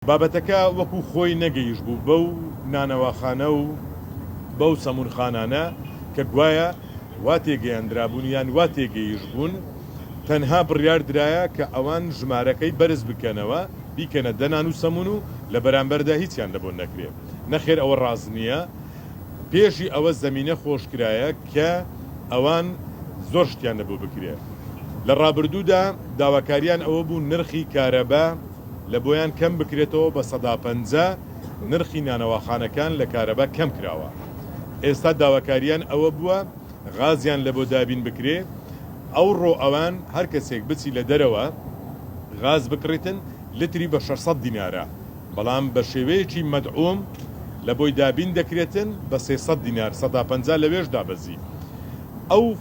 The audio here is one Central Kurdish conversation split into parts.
بابەتەکە وەکو خۆی نەگەیشبوو بەو نانەواخانە و بەو سەمونخانانە کە گوایە وا تێگەیەندرابوون یان وا تێگەیشبوون، تەنها بڕیار درایە کە ئەوان ژمارەکەی بەرز بکەنەوە بیکەنە دە نان و سەمون و لە بەرامبەردا هیچیان لەبۆ نەکرێ. نەخێر ئەوە ڕاست نییە، پێشی ئەوە زەمینە خۆشکرایە کە ئەوان زۆر شتیان لەبۆ بکرێ. لە ڕابردوودا داواکارییان ئەوە بوو نرخی کارەبا، لە بۆیان کەم بکرێتەوە بە سەدا پەنجا نرخی نانەواخانەکان لە کارەبا کەم کراوە ئێستا داواکاریان ئەوە بووە غازیان لە بۆ دابین بکرێ ئەوڕۆ ئەوان هەر کەسێک بچی لە دەرەوە غاز بکڕیتن لتری بە شەش سەد دینارە بەڵام بە شێوەیەکی مەدعوم لە بۆی دابین دەکرێتن بە سێ سەد دینار سەدا پەنجا لەوێش دابەزی ئەو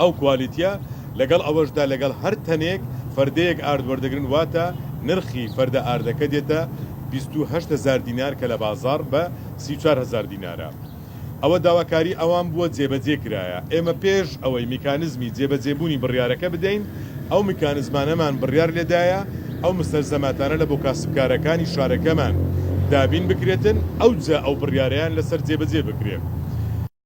ئەو کوالیتیە لەگەڵ ئەوەشدا لەگەڵ هەر تەنێک فەردەیەک ئارد وەردەگرن واتە نرخی فەردە ئاردەکە دێتە بیست و هەشت هەزار دینار کە لە بازاڕ بە سی و چوار هەزار دینارە ئەوە داواکاری ئەوان بووە جێبەجێ کرایە ئێمە پێش ئەوەی میکانزمی جێبەجێبوونی بڕیارەکە بدەین ئەو میکانزمانەمان بڕیار لێدایە ئەو مستەلزەماتانە لە بۆ کاسبکارەکانی شارەکەمان دابین بکرێتن ئەوجا ئەو بڕیارەیان لەسەر جێبەجێ بکرێ.